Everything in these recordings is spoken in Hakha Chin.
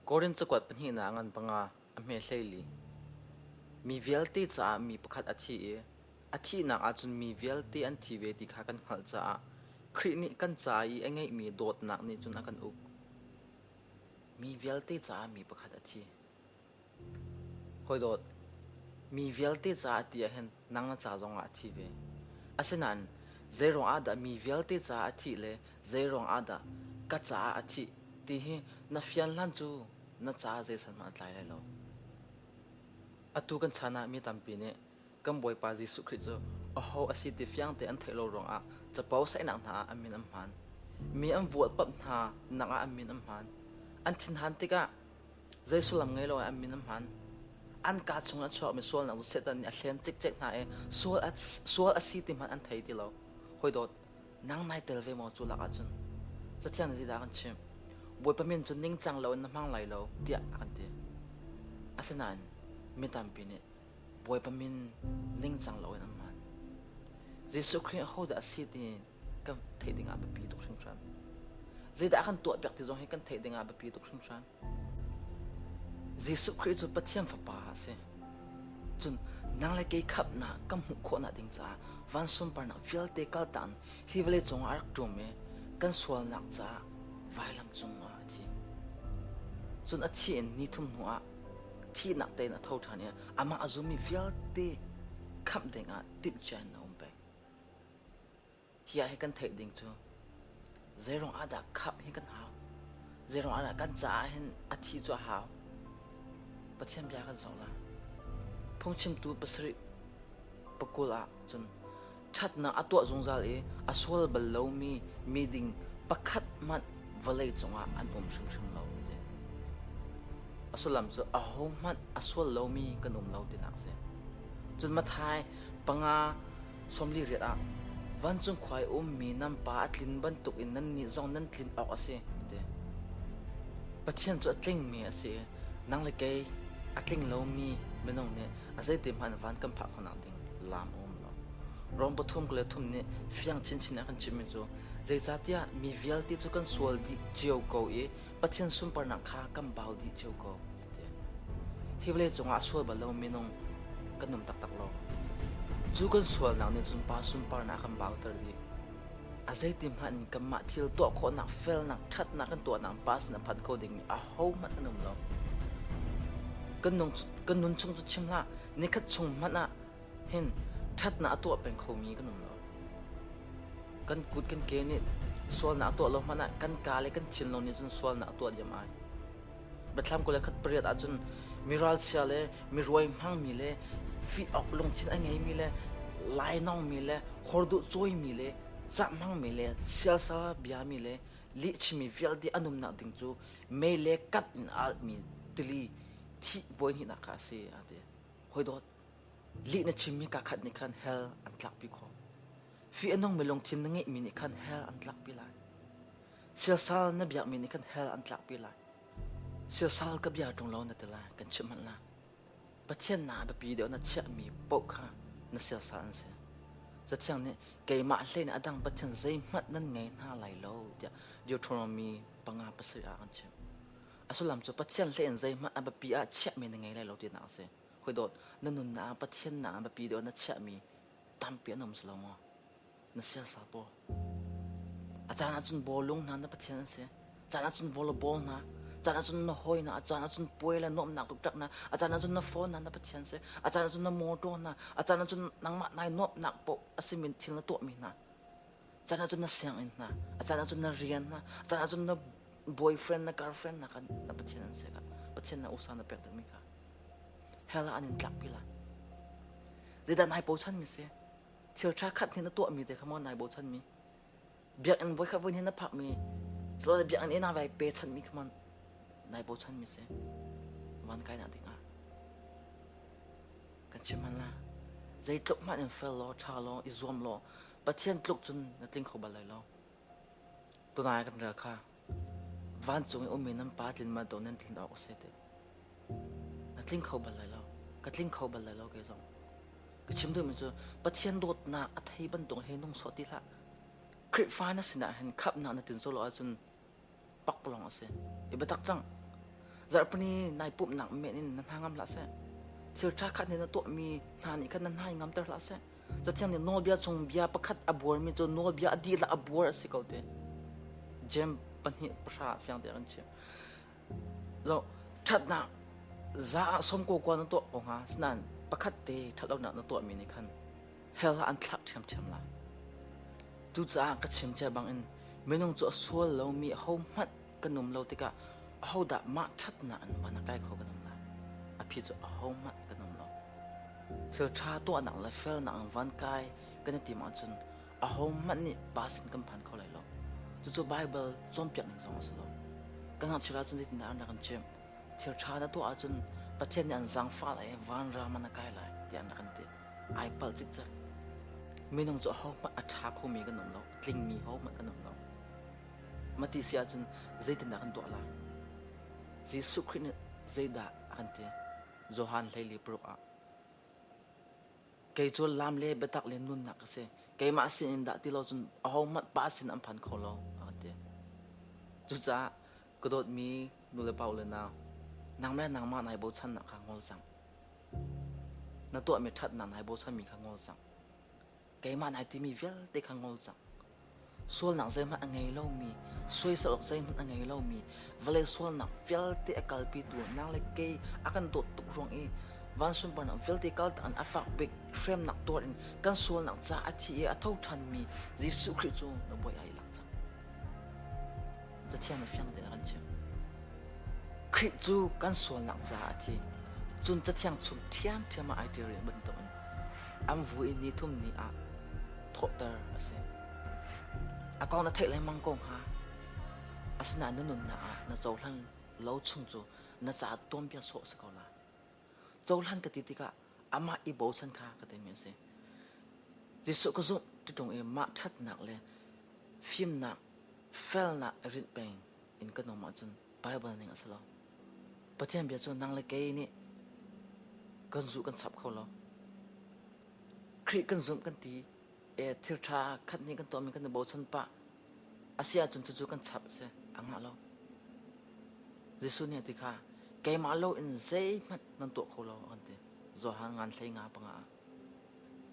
Korin cakuat pahnihnak an panga, a hme hleili. Mi vialte caah mi pakhat a thi i a thihnak ahcun mi vialte an thi ve ti kha kan hngalh caah Khrih nih kan ca i a ngeihmi dawtnak nih cun a kan uk. Mi vialte caah mi pakhat a thi. Hawidawt, mi vialte caah ti ah hin nang na ca zongah a thi ve. Asinain zeiruang ah dah mi vialte caah a thih le zeiruang ah dah ka caah a thih ti hi na fian hlan cu na caah zeisat hmanh a tlai lai lo. Atu kan chan ah mi tampi nih kan Bawipa Jesuh Khrih cu aho a si ti fiang tein an theih lo ruangah capo saihnak hna ah an min an hmaan. Mi an vualpamh hna nakah an min an hmaan. An thinhan tikah Zei sullam ngei loah an min an hman. An kaa chung an chuakmi sualnak cu Satan nih a hlen cikcek hna i sual a, sual a si ti hmanh an thei ti lo. Hawidawt, nang nai tel ve maw cu lakah cun? Cathiang nih zeidah a kan chimh? Bawipa min cu ningcang loin na hmang lai lo tiah a kan ti. Asinain mi tampi nih Bawipa min ningcang loin an hman. Jesuh Khrih ahodah a si ti kan theih dingah biapi tuk hringhran. Zeidah a kan tuahpiak ti zong hi kan theih dingah biapi tuk hringhran. Jesuh Khrih cu Pathian Fapa a si. Cun nang le kei khapnak kan hmuh khawhnak ding caah vansung parnak vialte kaltan hi vawlei cungah a rak ṭum i kan sualnak caah vailam cungah a thi. Cun a thi in ni thum hnuah thihnak tein a tho ṭhan i amah a zummi vialte khamh dingah timhcia in a um peng. Hi ah hi kan theih ding cu zeiruang ahdah khamh hi kan hau? Zeiruang ahdah kan caah hin a thi cu a hau? Pathian bia kan zoh la. Phungchimtu pasarih pakul ah cun ṭhatnak a tuah zungzal i a sual bal lomi miding pakhat hmanh vawlei cungah an um hrimhrim lo ti. A sullam cu ahohmanh a sual lomi kan um lo tinak a si. Cun Mathai panga Sawmli riat ah, vancung khuai um mi nan pa a tlin bantukin nannih zong nan tlin awk a si, an ti. Pathian cu a tlingmi a si i nang le kei a tling lomi minung nih a zeite hmanh van kan phah khonak ding lam a um lo. Rom pathum kul le thum nih fiang chinchin a kan chimmi cu zeicahtiah mi vialte cu kan sual dih cio ko i Pathian sunparnak kha kan bau dih cio ko. Hi vawlei cungah sual bal lo minung kan um taktak lo. Cu kan sualnak nih cun pa sunparnak kan bauter dih. A zeiti hmanh in kanmah thil tuah khawhnak felnak ṭhatnak kan tuahnak pa sin a phan kho ding a hohmanh an um lo. Kan, nung, kan nun chung cu chim hlah, nikhat chung hmanh ah hin ṭhatnak a tuah peng khomi kan um lo. Kan kut kan ke nih sualnak a tuah lo hmanh ah kan ka le kan thin lo nih cun sualnak a tuah diam ai. Biathlam kul le khat pariat ahcun mi ralchia le mi ruai hmangmi le fih awk lungthin a ngeimi le lainawngmi le horduh cawimi le cah hmangmi le sialsal biami le lihchimi vialte an umnak ding cu mei le kat in a alhmi tili thih voi hnihnak kha a si, a ti. Hawidawt, lih na chimmi kaa khat nih khan hell an tlakpi khawh. Fih a nungmi lungthin na ngeihmi nih khan hell an tlakpi lai. Siasal na biakmi nih kan hell an tlakpi lai. Siasal ka bia ṭung lo na ti lai, kan chimh hmanh la. Pathian naa biapi deuh na chiahmi paoh kha na siasal an si. Cathiang nih keimah hlei nih a dang pathian zeihmanh nan ngei hna lai lo tiah Deuteronomy panga pasarih ah kan chim. A sullam cu Pathian hlei in zeihmanh a biapi ah chiahmi na ngei lai lo tinak a si. Hoi dawt, na nunnak ah Pathian naa biapi deuh na chiahmi tampi an um si lo maw? na siasa paw a caan ahcun bawlung hna na pathian an si caan ahcun volleyball hna caan ahcun na hawi hna a caan ahcun puai le nuamhnak tuktak hna a caan ahcun na phone hna na pathian si a caan ahcun na motor hna a caan ahcun nangmah nai nuamhnak paw a simin thil na tuahmi hna caan ahcun na sianginn hna a caan ahcun na rian hna a caan ahcun na boyfriend na girlfriend hna kan na pathian an si ka pathian na usa na pek dingmi ka hela an in tlak pila zeidan hai po chan mi si thil tha khat hin a tuah mi te kha mo nai bochan mi biakinn voi khat voi hin na phak mi lo biakinn ena vai pe chan mi kha mon nai bochan mi se van kai na ding a kan chim han la zei tluk ma in fel lo tha lo i zuam lo pathian tluk chun na tling kho bal lai lo tunai kan rel kha Vancung i ummi nan Pa tlin manh tuah nan tlin awk a si teh. Na tling kho bal lai lo. Ka tling kho bal lai lo kei zong. Ka chim duhmi cu Pathian dawtnak a thei bantuk hi nung sawh ti hlah. Khrihfa na sinah hin khamhnak na tlin sawh lo ahcun pakpalawng a si. I biatak cang. Zarhpini nai pumhnak men in na hna ngam hlah seh. Thil ṭha khat nih na tuahmi hna nih khan na hnai ngamter hlah seh. Cathiang nih nawlbia chung bia pakhat a buarmi cu nawlbia a dihlak a buar a si ko te. Jem pahnih pahra fiang te kan chim. So, thatnak za ah som ko kwa na tuah ko nga sinan pakhat te thatlonak na tuah mi nih khan hell ha an thlak ṭhiamṭhiam la. Cucaah ka chim che bangin minung cu a sual lomi ho hmanh kan um lo tikah ahodah mah ṭhatnak an upan a kai kho kan um lai a phi cu ahohmah kan um lo thil ṭha tuahnak le felnak in van kai kan i tim ahcun ahohmanh nih pass in kan phan kho lai lo cucu Baibal cawnpiak ning zong a si lo kan ngakchia ahcun zeitindah an rak in chimh thil ṭha na tuah ahcun Pathian nih an zaangfah lai i vanram an a kai lai tiah an rak in ti ai palh cikcek minung cu ahohmanh a ṭha khomi kan um lo a tlingmi hohmanh kan um lo Mah ti si ahcun zeitindah kan tuah lai? Jesuh Khrih nih zeidah a kan ti? Johan hleili paruk ah, Kei cu lam le biatak le nunnak ka si. Keimah sin in dah ti lo cun ahohmanh Pa sin an phan kho lo, a ka ti. Cucaah ka dawtmi nu le pa u le nau, nangmah le nangmah nai bochannak kha ngol cang. Na tuahmi ṭhatnak nai bochanmi kha ngol cang. keimah na timi vialte kha ngol cang. Sualnak zeihmanh a ngei lomi, soisel awk zeihmanh a ngei lomi, vale sualnak vialte a kalpitu nang le kei a kan dawt tuk ruang i van sunparnak vialte kal an a fak bik hremnak tuar in kan sualnak ca a thi i a tho ṭhanmi Jesuh Khrih cu na bawi ai lak cang. Cathiang nih fiang tein a kan chimh. Khrih cu kan sualnak ca a thi. Cun cathiang chung ṭhiamṭhiam ah ai ṭial rih bantukin an vu i ni thum ni ah thawhter a si. A kong na theih lengmang ko hnga. Asinain na nunnak ah na cohlan lo chung cu na ca tuanbia sawh a si ko lai. cohlan ka ti tikah amah i bochan kha ka timi a si jesuh ka zumh tiṭung i mah ṭhatnak le fimnak felnak i rinh peng in ka nung ahcun Baibal ning a si lo Pathian bia cu nang le kei nih kan zuh kan chap kho lo Khrih kan zumh kan ti Eh, thilṭha khat hnih kan tuahmi kan i bochan pah. A si ahcun cucu kan chap a si. A ngah lo. Jesuh nih a ti kha, keimah loin zeihmanh nan tuah kho lo, a kan ti. Johan ngan hlei nga panga ah.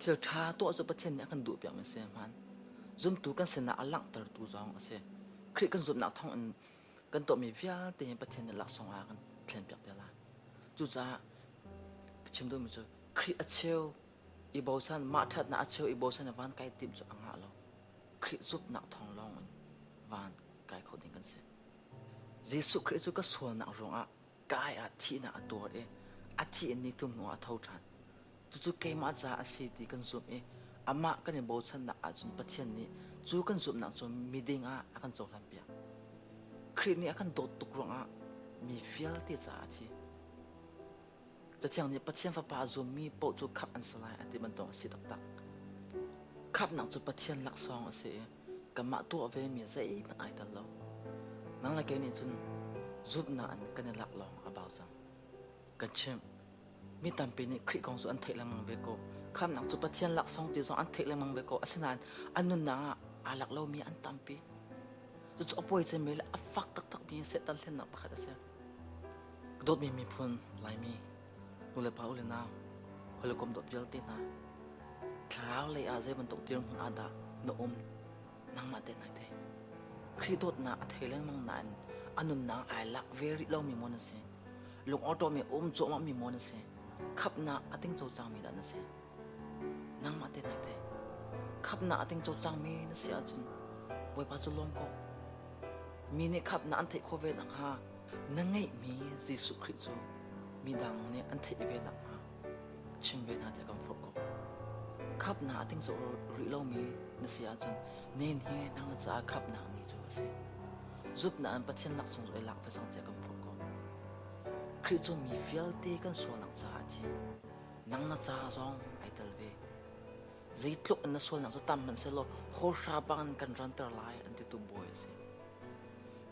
Thil ṭha tuah cu Pathian nih a kan duhpiakmi a si hmaan. Zumtu kan sinah a langhtertu zong a si. Khrih kan zumhnak thawngin kan tuahmi vialte hi Pathian nih laksawng ah a kan thlenpiak te lai. Cucaah ka chim duhmi cu, Khrih a cheu i bosan mah ṭhatnak a cheu i bosan a van kai timh cu a ngah lo. Khrih zumhnak thawng lawngin van kai kho ding kan si. Jesuh Khrih cu ka sualnak ruangah ka ai ah thihnak a tuar i a thi in ni tum hnuah a tho ṭhan. Cucu keimah ca a si ti kan zumh i amah kan i bochannak ahcun Pathian nih cu kan zumhnak cu miding ah a kan cohlanpiak. Khrih nih a kan dawt tuk ruangah mi vialte caah a thi. Cathiang nih Pathian Fapa a zummi paoh cu khamh an si lai a ti bantuk a si taktak. Khamhnak cu Pathian laksawng a si i kanmah tuah vemi zeihmanh ai tel lo. Nang le kei nih cun zumhnak in kan i lak lawng a bau cang. Kan chimh, mi tampi nih Khrih kong cu an theih lengmang ve ko. Khamhnak cu Pathian laksawng ti zong an theih lengmang ve ko. Asinain an nunnak ah aa lak lomi an tampi. Cucu a puai cemmi le a fak taktakmi Satan hlennak pakhat a si. Ka dawtmi miphun Laimi, nulepa, ule nau, hawile kom dawt vialte hna, thlarau lei ah zei bantuk dirhmun ah dah na um nangmah te nai theih. Khrih dawtnak a thei lengmang nain a nunnak ai lak ve rih lomi maw na si, lungawṭawmi a um cuahmahmi maw na si, khapnak a ting co cangmi dah na si. Nangmah tehna i theih. Khamhnak a tling co cangmi na si ahcun Bawipa cu lawm ko. Mi nih khamhnak an theih khawh ve nakhnga na ngeihmi Jesuh Khrih cu midang nih an theih ve nakhnga chim ve hna tiah kan forh ko. Khamhnak a tling co rih lomi na si ahcun nen hi nang na caah khamhnak ni cu a si. Zumhnak in Pathian laksawng cu i lak ve cang tiah kan forh ko. Khrih cu mi vialte kan sualnak caah a thi. Nang na ca zong ai tel ve. Zeitluk in na sualnak cu tam hmanh sehlaw hawlhra bangin kan ranter lai an titu bawi a si.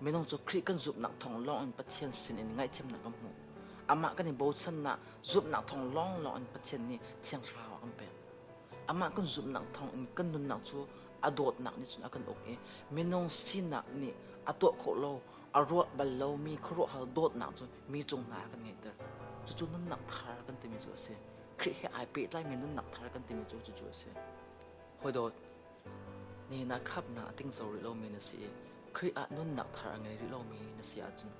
Minung cu Khrih kan zumhnak thawng lawngin Pathian sinin ngaihthiamnak kan hmu. Amah kan i bochannak zumhnak thawng lawnglawng in Pathian nih thiang thlarau a kan pek. Amah kan zumhnak thawng in kan nunnak cu a dawtnak nih cun a kan uk i minung sinak nih a tuah khawh lo a ruah bal lomi khuaruahhar dawtnak cu mi cung hna ah kan ngeihter. Cucu nunnak thar kan timi cu a si. Khrih he ai pehtlaimi nunnak thar kan timi cu cucu a si. Hawidawt, nihin ah khapnak a tingso rih lomi na si i Khrih ah nunnak thar a ngei rih lomi na si ahcun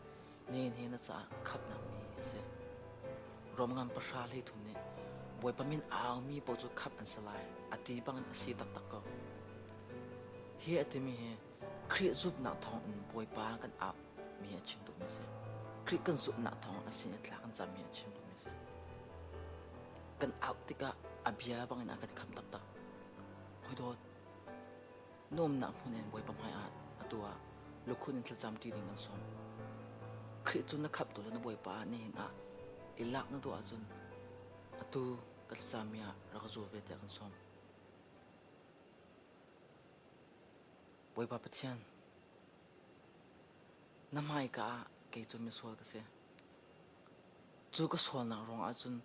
nihin hi na caah khapnak ni a si. Romngan pahra hleithum nih Bawipa min aumi paoh cu khap an si lai a ti bangin a si taktak ko. Hi a timi hi Khrih zumhnak thawngin Bawipa kan ap mi a chim duhmi a si. Khrih kan zumhnak thawng a sin i thla kan cam mi a chim duhmi a si. Kan out tikah a bia bangin a kan kham taktak. Hoi dawt. Nuamnak hmun in Bawipa hmai ah atu ah lukhun in thlacam ti ding an sawm. Khrih cu na khaptu le na Bawipa ni hin ah i lak na duh ahcun atu ka thlacam mi ah rak zu ve tiah kan sawm. Bawipa Pathian, na hmaika ah kei cu misual ka si. Cu ka sualnak ruangah cun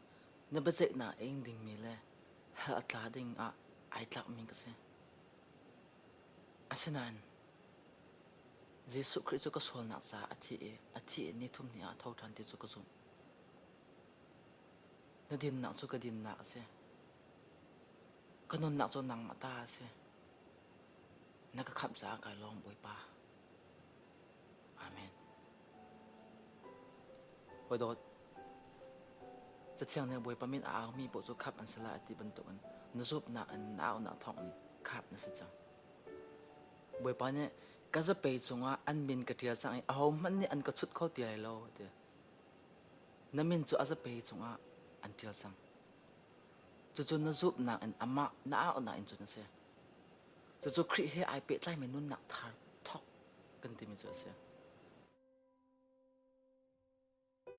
na biaceihnak a ing dingmi le hell a tla ding ah ai tlakmi ka si. Asinain Jesuh Khrih cu ka sualnak caah a thi i a thi i nithum ni ah a tho ṭhan ti cu ka zumh. Na dinnak cu ka dinnak a si. Ka nunnak cu nangmah ta a si. Na ka khamh caah kai lawm Bawipa. Amen. Hawi dawt, Cathiang nih Bawipa min a aumi paoh cu khamh an si lai ti bantukin na zumhnak in na aunak thawngin khamh na si cang. Bawipa nih ka zapei cungah an min ka ṭial cang i ahohmanh nih an ka chut kho ti lai lo a ti. Na min cu a zapei cungah an ṭial cang; cucu na zumhnak in amah na aunak in cun a si. Cucu Khrih he ai pehtlaimi nunnak thar thawk kan timi cu a si.